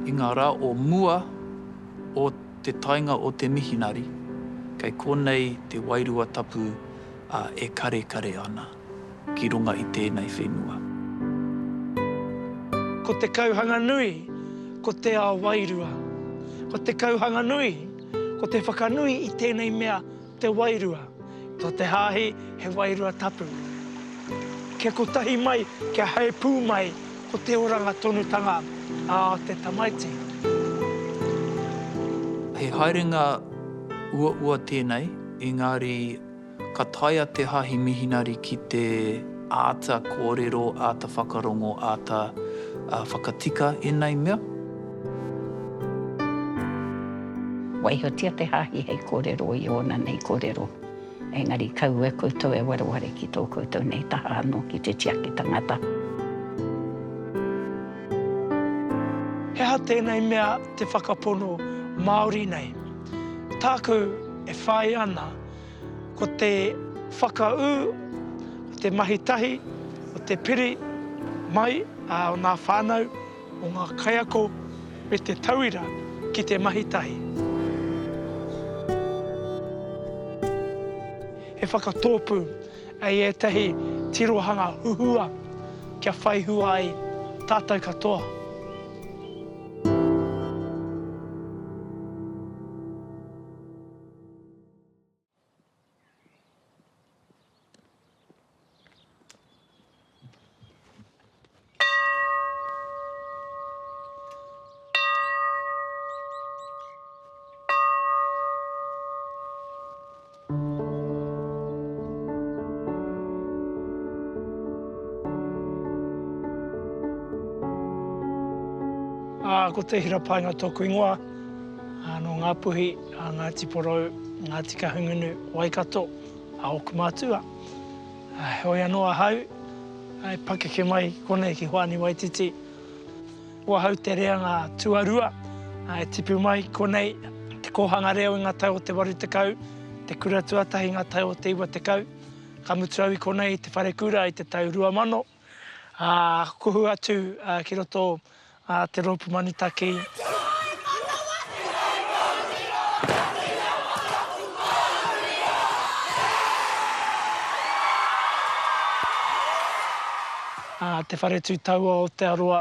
I ngā rā o mua o te taenga o te mihinari, kei konei te Wairua Tapu a e karekare ana ki runga i tēnei whenua. Ko te kauhanga nui, ko te ao wairua. Ko te kauhanga nui, ko te whakanui i tēnei mea Te wairua, to te hāhi he wairua tapu. Kia kotahi mai, kia hae pū mai ko te oranga tonutanga a te tamaiti. He haerenga uaua tēnei, engari ka taea te hāhi mihinari ki te. Āta kōrero, āta whakarongo, āta whakatika ēnei mea. Waihotia te hāhi hei kōrero i ōna nei kōrero, engari kaua koutou e wareware ki tō koutou nei taha anō ki te tiaki tangata. He aha tēnei mea te whakapono Māori nei? Tāku e whāia ana. Ko te whakaū o te mahi tahi, o te piri mai o ngā whānau, o ngā kaiako me te tauira ki te mahi tahi. He whakatōpū hei ētahi tirohanga huhua kia whai hua ai tātou katoa. Ko Te Hira Paenga tōku ingoa, nō Ngāpuhi. a Ngāti Porou, Ngāti Kahungunu, Waikato, a ōku mātua. Heoi anō ahau e pakeke mai konei ki Hoani Waititi. Ko ahau te reanga tuarua e tipu mai konei i te kōhanga reo i ngā tau o te 80, te kura tuatahi i ngā tau o te 90. Ka mutu au i konei i te wharekura i te tau 2000. ā, kuhu atu ki roto ā te rōpu manutaki. Te Whānau Manawatū hei kōrero ki ngā whakaatu Māori o Aotearoa. Te Whare Tū Taua o Aotearoa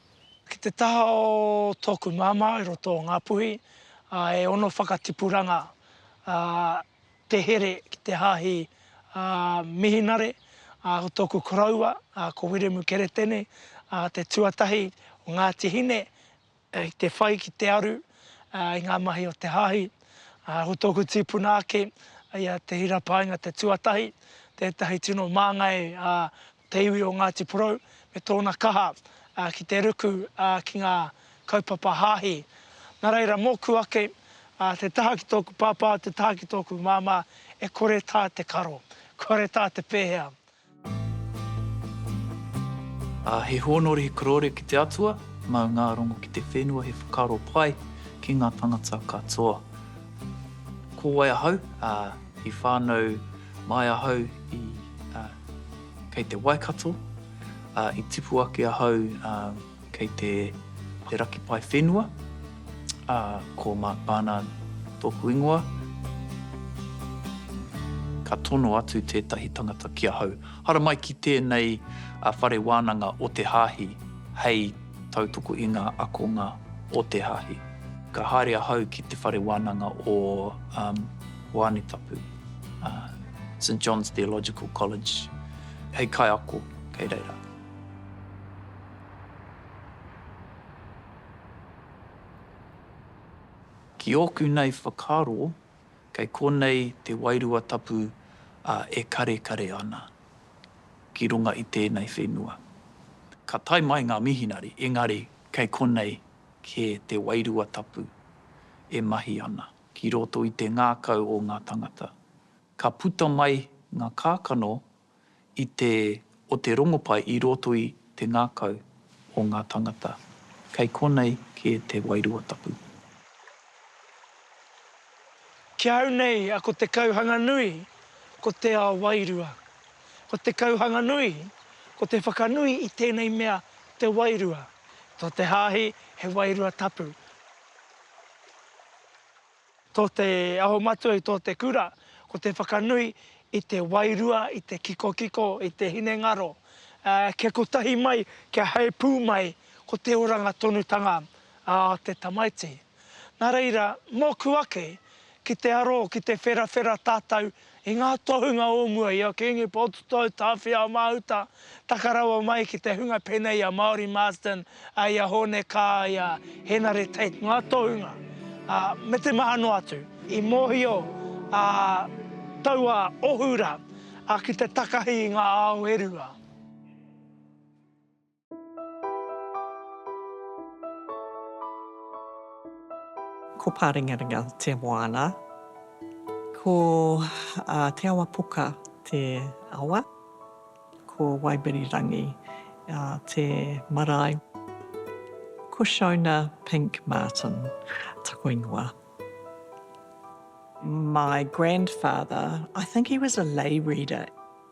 Ki te taha o tōku māmā i roto o Ngāpuhi, e ono whakatipuranga te here ki te Hāhi Mihinare, ko tōku koroua, ko Wiremu Keretene, te tuatahi o Ngāti Hine, i te whai ki te aru i ngā mahi o te Hāhi. Ko tōku tīpuna ake, ia Te Hira Paenga te tuatahi, tētahi tino māngai te iwi o Ngāti Porou me tōna kaha ki te ruku ki ngā kaupapa hāhi. Nā reira, mōku ake, te taha ki tōku pāpā, te taha ki tōku māmā, e kore tā te karo, kore tā te pēhea. He hōnore, he korore ki te Atua, mau ngā rongo ki te whenua, he whakaaro pai ki ngā tangata katoa. Ko wai ahau, i whānau mai ahau i. Kei te Waikato, ā, i tipu ake ahau kei te raki pae whenua, ā, ko Mark Barnard tōku ingoa. Ka tono atu tētahi tangata ki ahau, Haramai ki tēnei whare wānanga o te Hāhi hei tautoko i ngā akonga o te Hāhi. Ka haere ahau ki te whare wānanga o Hoanetapu. St John's Theological College hei kaiako kei reira. Ki ōku nei whakaaro, kei konei te wairua tapu e karekare ana ki runga i tēnei whenua. Ka tae mai ngā mihinari, engari kei konei kē te wairua tapu e mahi ana. Ki roto i te ngākau o ngā tangata, ka puta mai ngā kākano i te o te rongopai i roto i te ngākau o ngā tangata. Kei konei kē te wairua tapu. Ki ahau nei a ko te kauhanga nui ko te ao wairua. Ko te kauhanga nui ko te whakanui i tēnei mea te wairua. To te hāhi he wairua tapu. Tō te aho matua i tō te kura, ko te whakanui i te wairua, i te kikokiko, i te hinengaro, kia kotahi mai, kia heipū mai ko te oranga tonutanga a te tamaiti. Nā reira, mōku ake, Ki te aro, ki te wherawhera tātou i ngā tohunga o mua i a Kīngi Pōtatau, Tāwhiao-Māhuta, taka rawa mai ki te hunga pēnei i a Māori Marsden, i a Hōne Kaa, i a Henare Tate, ngā tohunga, ā, me te maha noa atu. I mōhio a taua ohu rā ki te takahi i ngā ao e rua. Ko Pārengarenga te moana. Ko Te Awa Poka te awa. Ko Waibirirangi te marae. Ko Shona Pink Martin taku ingoa. My grandfather, I think he was a lay reader.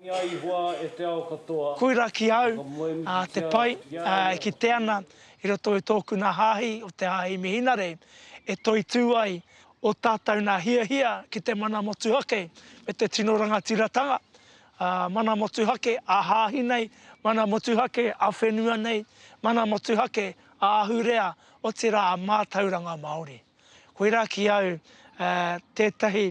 Ki a Ihoa e te ao katoa. Koira ki au, a, te pai, a, e kite ana i roto i tōku nā hāhi o te hāhi Mihinare e toitū ai o tātou nā hiahia ki te mana motuhake me te tino rangatiratanga, a, mana motuhake a hāhi nei, mana motuhake a whenua nei, mana motuhake a ahurea otirā a mātauranga Māori. Koira ki au, a, tētahi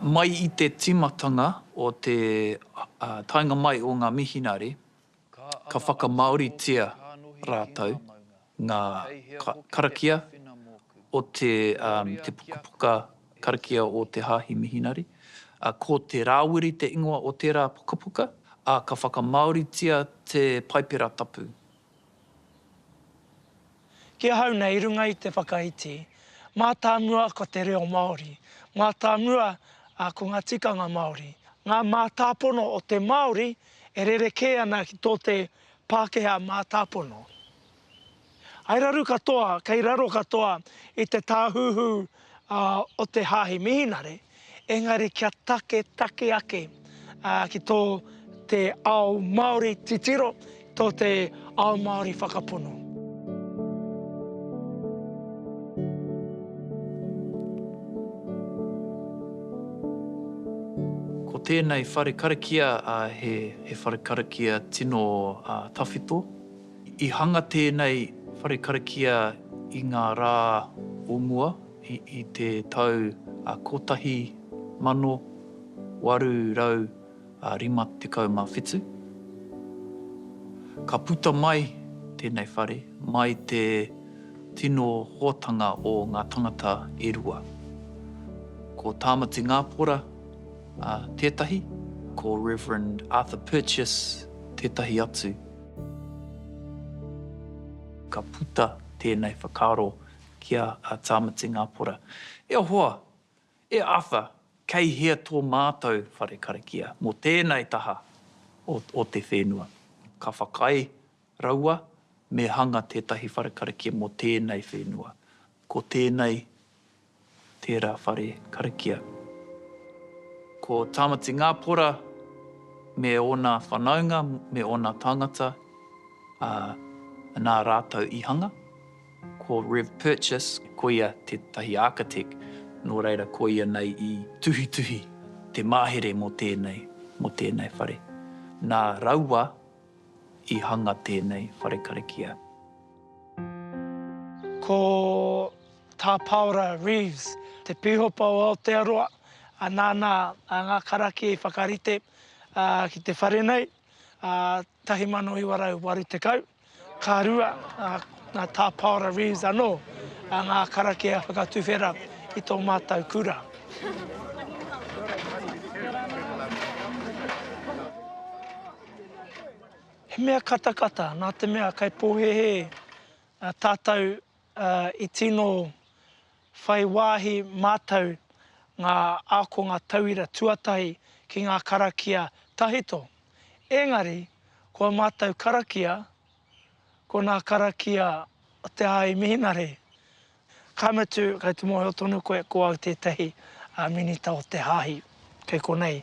Mai i te tīmatanga o te taenga mai o ngā mihinare, ka whakamāoritia rātou ngā karakia o te pukapuka karakia o te Hāhi Mihinare. Ko Te Rāwiri te ingoa o tērā pukapuka, ā, ka whakamāoritia te Paipera Tapu. Ki ahau nei i runga i te whakaiti, mātāmua ko te reo Māori, mātāmua ko ngā tikanga Māori, ngā mātāpono o te Māori e rerekē ana ki tō te Pākehā mātāpono. I raru katoa, kei raro katoa i te tāhuhu o te Hāhi Mihinare, Engari kia taketake ake ki tō te ao Māori titiro, tō te ao Māori whakapono. Ko tēnei whare karakia he whare karakia tino tawhito. I hanga tēnei whare karakia i ngā rā o mua. I te tau 1857, ka puta mai tēnei whare mai te tino hōtanga o ngā tangata e rua. Ko Tāmati Ngāpora tētahi, ko Rev. Arthur Purchas tētahi atu. Ka puta tēnei whakaaro ki a Tāmati Ngāpora, E hoa! E Arthur! Kei hea tō mātou whare karakia mō tēnei taha o te whenua? Ka whakaae raua me hanga tētahi whare karakia mō tēnei whenua. Ko tēnei tērā whare karakia. Ko Tāmati Ngāpora me ōna whanaunga, me ōna tāngata, ā, nā rātou i hanga. Ko Rev Purchas, ko ia tētahi architect, nō reira ko ia nei i tuhituhi te mahere mō tēnei, mō tēnei whare. Nā raua i hanga tēnei whare karakia. Ko Tā Paora Reeves, te Pīhopa o Aotearoa, ā, nāna ngā karakia i whakarite ki te whare nei, 1980. Ka rua nā Tā Paora Reeves anō ngā karakia whakatuwhera i tō mātou kura. He mea katakata, nā te mea kei pōhēhē tātou ā, i tino whai wāhi mātou ngā ākonga tauira tuatahi ki ngā karakia tahito. Engari, ko ā mātou karakia, ko nā karakia o te āi mihinare. Ka mutu, kei te mōhio tonu koe, ko au tētahi Minita o te Hāhi, kei konei.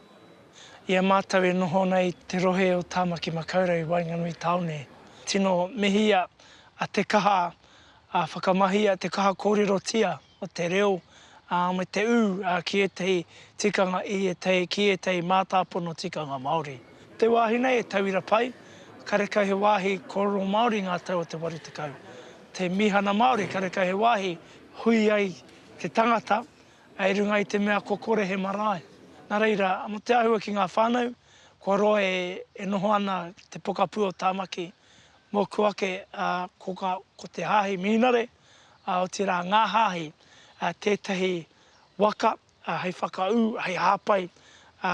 I a mātou e noho ana i te rohe o Tāmaki Makaurau i waenganui tāone, tino mihia a Te Kaha a whakamahia te kaha kōrerotia o te reo me te ū ki ētahi tikanga i ētahi ki ētahi mātāpono tikanga Māori. Te wāhi nei e tauira pai, karekau he wāhi kōrero Māori ngā tau o te waru tekau. Te mīhana Māori karekau he wāhi hui ai te tangata I runga i te mea kua kore he marae. Nā reira, mō te āhua ki ngā whānau, kua roa e noho ana te pokapū o Tāmaki mōku ake, ā, ko ngā, ko te hāhi Mihinare, ā, otirā ngā hāhi, ā, tētahi waka, ā, hei whakaū, hei hāpai, ā,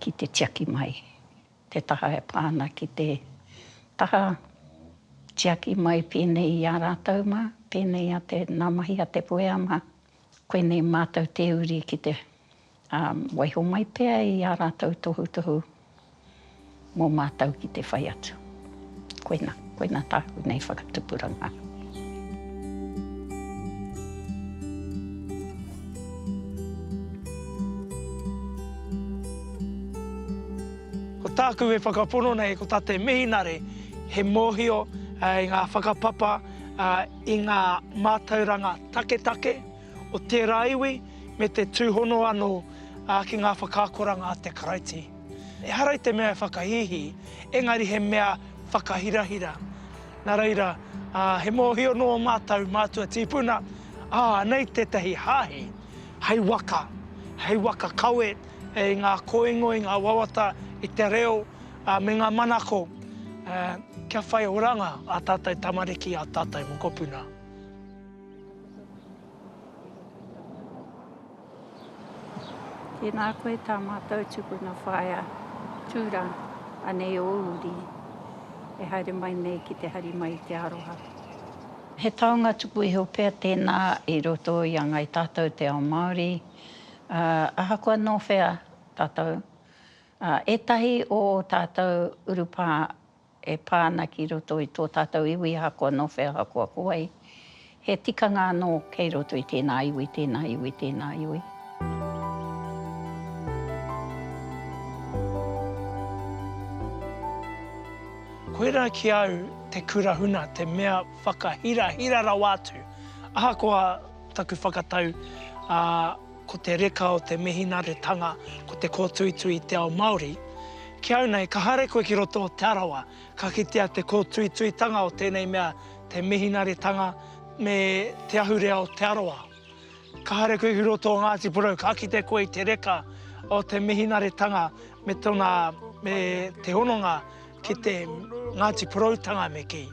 ki te tiaki mai te taha e pā ana ki te taha tiaki mai pēnei i a rātou mā, pēnei a te, nā mahi a te puea mā, koinei mātou tē uri ki te waiho mai pea i ā rātou tohutohu mō mātou ki te whai atu. Koina, koina tāku nei whakatupuranga. Ko tāku e whakapono nei, ko tā te mihinare, he mōhio i ngā whakapapa, i ngā mātauranga taketake o tērā iwi, me te tūhono anō ki ngā whakaakoranga a te Karaiti. Ehara i te mea e whakahīhī, engari he mea whakahirahira. Nā reira, he mōhio nō mātou mātua tīpuna, ā, anei tētahi hāhi hei waka, hei waka kawe i ngā kōingo, i ngā wawata, i te reo me ngā manako, kia whai oranga ā tātou tamariki, ā tātou mokopuna. Tēnā koe tā mātou tupuna whaea tūrā, anei ō uri e haere mai nei ki te hari mai i te aroha. He taonga tuku iho pea tēnā i roto i a Ngai Tātou Te Ao Māori, ā, ahakoa nō whea tātou, ā, ētahi o ō tātou urupā e pā ana ki roto i tō tātou iwi ahakoa nō whea ahakoa ko wai, he tikanga anō kei roto i tēnā iwi, tēnā iwi, tēnā iwi. Koirā ki a au te kura huna, te mea whakahirahira rawa atu, ahakoa taku whakatau, ā, Ko te reka o te mihinaretanga ko te kōtuitui i te ao Māori. Ki au nei, ka haere koe ki roto o Te Arawa, ka kitea te kōtuituitanga o tēnei mea te mihinaretanga me te ahurea o Te Arawa. Ka haere koe ki roto o Ngāti Porou, ka kite koe i te reka o te mihinaretanga me tona, me te hononga ki te Ngāti Poroutanga me kī.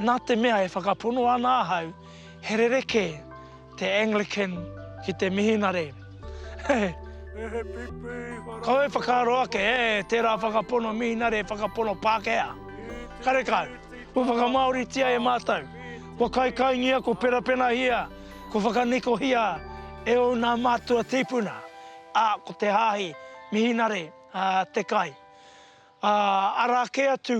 Nā te mea e whakapono ana ahau, he rerekē te Anglican ki te mihinare. Kau e whakaaro ake e tērā whakapono mihinare, whakapono Pākehā. Karekau, kua whakamāoritia e mātou, kua kaikaingia, kua penapenahia, kua whakanikohia e ō nā mātua tīpuna, ā, ko te hāhi mihinare te kai. Ā, arā kē atu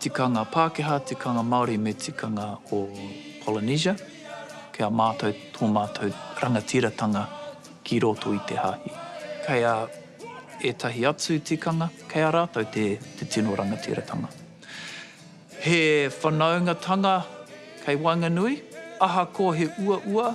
Tikanga Pākehā, tikanga Māori me tikanga o Polynesia, ki a mātou tō mātou rangatiratanga ki roto i te hāhi. Kei a ētahi atu tikanga, kei a rātou te tino rangatiratanga. He whanaungatanga kei waenganui, ahakoa he uaua,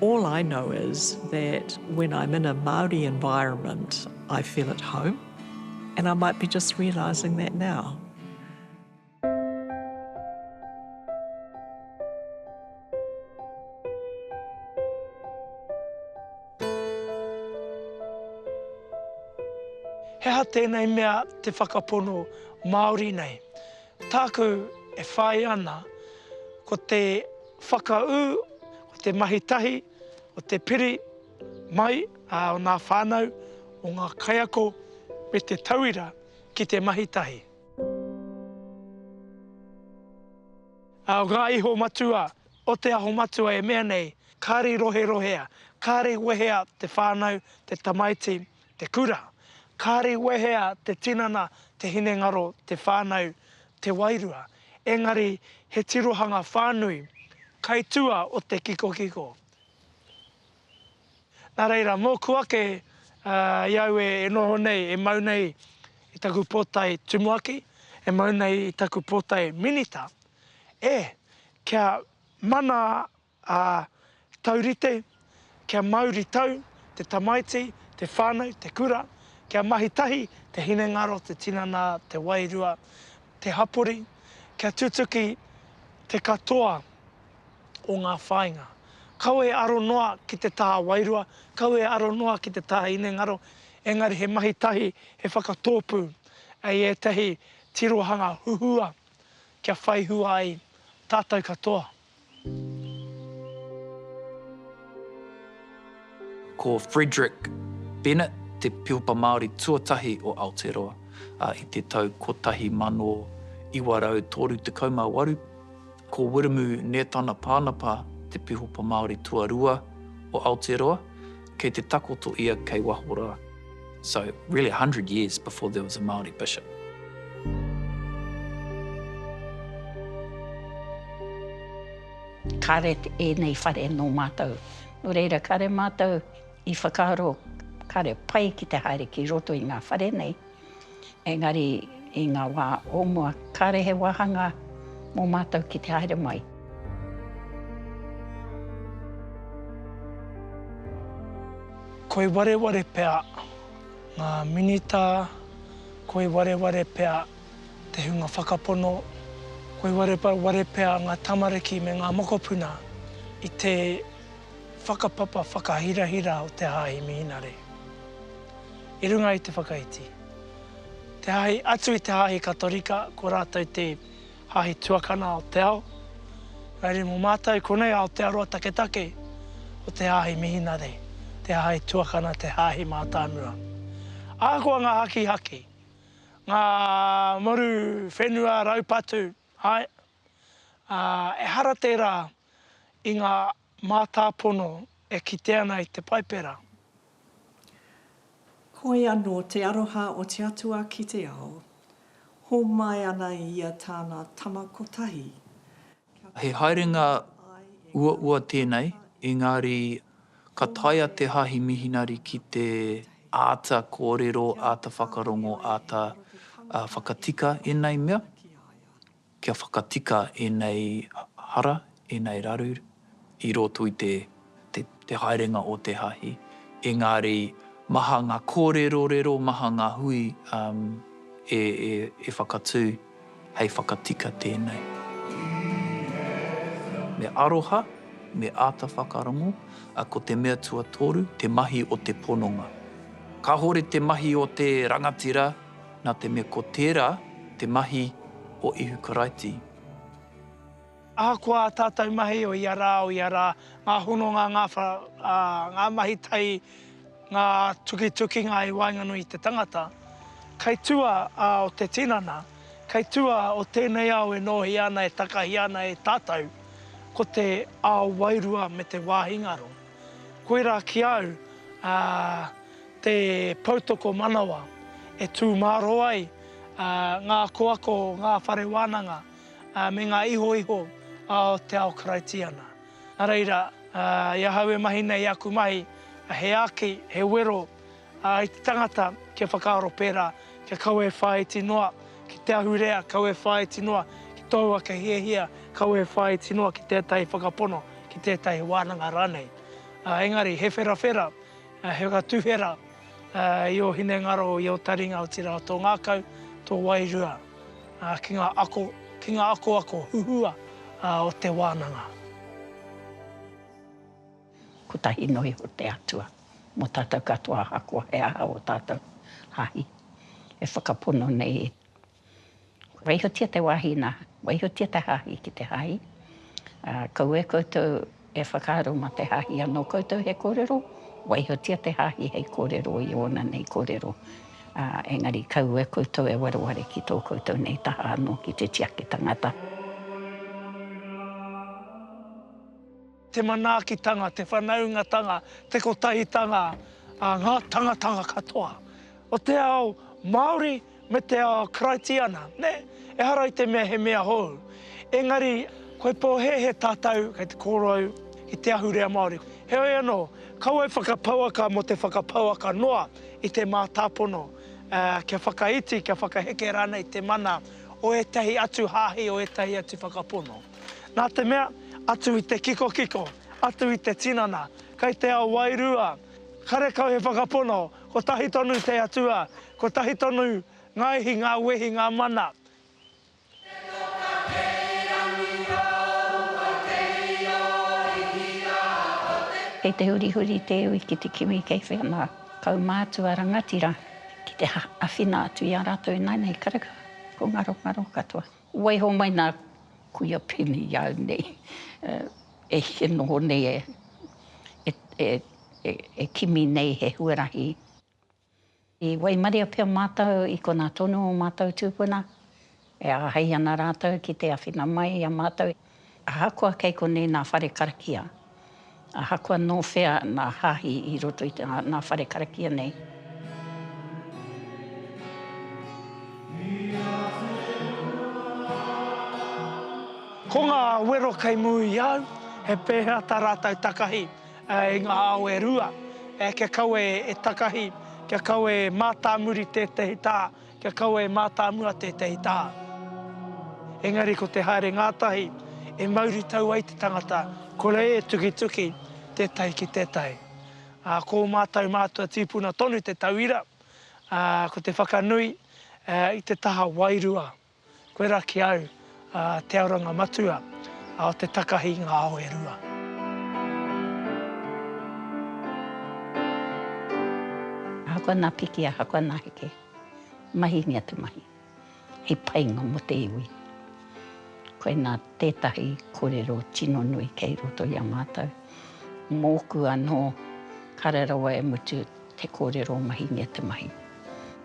All I know is that when I'm in a Māori environment I feel at home and I might be just realising that now. He aha tēnei mea te whakapono Māori nei? Tāku e whāia ana, ko te whakaū o te mahi tahi o te piri mai o ngā whānau, o ngā kaiako me te tauira ki te mahi tahi. Ā, ngā iho matua o Te Aho Matua e mea nei, kāre roherohea, kāre wehea te whānau, te tamaiti, Te kura, kāre wehea te tinana, te hinengaro, te whānau, te wairua, engari he tirohanga whānui, kai tua o te kikokiko. Nā reira, mōku ake i au e noho nei, e mau nei i taku pōtae tumuaki, e mau nei i taku pōtae minita, e, kia mana Ā, taurite, kia mauri tau, te tamaiti, te whānau, te kura, kia mahi tahi te hinengaro, te tinana, te wairua, te hapori, kia tutuki te katoa o ngā whāinga. Kaua e aro noa ki te taha wairua, kaua e aro noa ki te taha hinengaro, engari he mahi tahi, he whakatōpū i ētahi tirohanga huhua kia whai hua ai tātou katoa. Ko Frederick Bennett te Pihopa Māori tuatahi o Aotearoa, ā, i te tau 1938, ko Wiremu Nētana Pānapa te Pihopa Māori tuarua o Aotearoa, Kei te takoto ia kei waho rā. So, really a hundred years before there was a Māori bishop. Kāre ēnei whare nō mātou. Nō reira, kāre mātou i whakaaro, kāre pai ki te haere ki roto i ngā whare nei. Engari i ngā wā o mua, kāre he wāhanga mō mātou ki te haere mai. Koi wareware pea ngā Minita, koi wareware pea te hunga whakapono, koi wareware pea ngā tamariki me ngā mokopuna i te whakapapa whakahirahira o te Hāhi Mihinare. i runga i te whakaiti. Te hāhi atu i te hāhi Katorika ko rātou te hāhi tuakana o te ao, raire mō mātou konei Aotearoa taketake ko te hāhi Mihinare te hāhi tuakana te hāhi mātāmua. Ahakoa ngā hakihaki, ngā moru whenua raupatu, āe, ā, ehara tērā i ngā Mātāpono e kite ana i te Paipera. Hoi anō te aroha o te Atua ki te ao, hōmai ana ia tāna Tama Kotahi, kia He kore haerenga e whakaae e ngā uaua hapū tēnei, Tama i te ao, engari ka taea te hāhi mihinari ki te āta kōrero, āta whakarongo, āta whakatika ēnei mea. Kia whakatika ēnei hara, ēnei raru i roto i te haerenga o te hāhi. Engari maha ngā kōrerorero, maha ngā hui e whakatū hei whakatika tēnei. Me aroha, me āta whakarongo, ko te mea tuatoru, te mahi o te pononga. Kāhore te mahi o te rangatira. nā te mea ko tērā te mahi o Ihu Karaiti. Ahakoa ā tātou mahi o ia rā, o ia rā, ngā hononga, ngā wha, ā, ngā mahi tai, ngā tukitukinga i waenganui i te tangata, kei tua ā o te tinana, kei tua o tēnei ao e nōhia ana, e takahia ana e tātou, ko te ao wairua me te wāhi ngaro. Koirā ki au te poutoko manawa e tū mārō ai ngā akoako o ngā whare wānanga me ngā ihoiho o te ao Karaitiana. Nā reira, i ahau e mahi nei i aku mahi, he āki, he wero Ā, i te tangata kia whakaaro pērā, kia kawe e whāiti noa ki te ahurea, kawe e whāiti noa ki tōu ake hiahia, kawe e whāiti noa ki tētahi whakapono, ki tētahi wānanga rānei. Ā, engari, he wherawhera, he whakatuwhera i ō hinengaro, i ō taringa, otirā, tō ngākau, tō wairua, ā, ki ngā ako, ki ngā akoako huhua o te wānanga. Kotahi noa iho te Atua mo tatou katoa ahakoa he aha o tatou hahi e whakapono nei e. Waihotia te wahi na, waihotia te hahi ki te hahi, a kaua e koutou e whakaaro ma te hahi ano koutou he korero, waihotia te hahi hei korero i ona nei korero, a engari kaua e koutou e wareware ki to koutou nei taha ano ki te tiaki tangata. te manaakitanga, te whanaungatanga, te kotahitanga a ngā tangatanga katoa o te ao Māori me te ao Karaitiana, nē? Ehara i te mea he mea hou, engari kua pōhēhē tātou kei te kōrou i te ahurea Māori. Heoi anō, kaua e whakapouaka mō te whakapouaka noa i te mātāpono, ā, kia whakaiti, kia whakaheke rānei te mana o ētahi atu hāhi, o ētahi atu whakapono. Nā te mea, atu i te kikokiko, atu i te tinana, kei te ao wairua, karekau he whakapono, kotahi tonu te Atua, kotahi tonu ngā ihi, ngā wehi, ngā mana. Te toka kei rangi rau o te io Hihiā o te. Kei te hurihuri te iwi ki te kimi kei whea ngā kaumātua rangatira ki te āwhina atu i a rātou ināianei karekau, ko ngarongaro katoa. Waiho mai nā Kuia Peni i au nei, e heke noho nei e kimi nei he huarahi. I waimaria pea mātou i konā tonu o mātou tūpuna, e āhei ana rātou ki te āwhina mai i a mātou. Ahakoa kei konei nā whare karakia, ahakoa nō whea nā hāhi i roto i nā whare karakia nei. Ko ngā wero kei mua i au, he pēhea tā rātou takahi i ngā ao e rua kia kaua e takahi, kia kaua e mātāmuri tētehi tā Kia kaua e mātāmua tētahi taha. Engari ko te haere ngātahi e mauri tau ai te tangata, ko reira e tukituki tētahi ki tētahi. Ā, ko mātou mātua tīpuna tonu te tauira, ā, ko te whakanui i te taha wairua. Koe ra ki au, a Te Aoranga Matua, a o te takahi i nga ao e rua. Ahakoa na piki, ahakoa na heke, mahi ngia te mahi, he painga mo te iwi. Koe na tetahi korero tino nui kei roto i a matou. Moku ano, kare rawa e mutu te korero mahi ngia te mahi.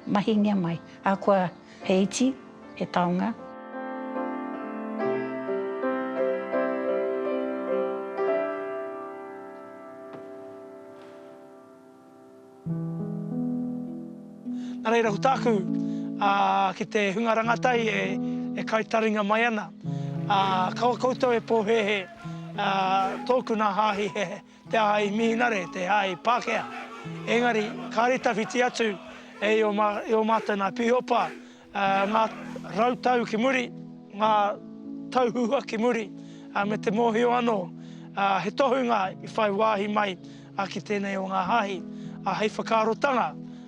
Mahi ngia mai, ahakoa. He iti, he taonga. Na reira ko taku ki te hunga rangatai e kai taringa mai ana. Kaua koutou e pohehe toku na hahi he Te aha i Mihinare, te aha i Pākehā. Engari, kāre tawhiti atu e i ō mātou nā Pīhopa, ngā rau tau ki muri, ngā tau huhua ki muri, me te mōhio anō he tohunga i whai wāhi mai ki tēnei o ngā hāhi hei whakaarotanga.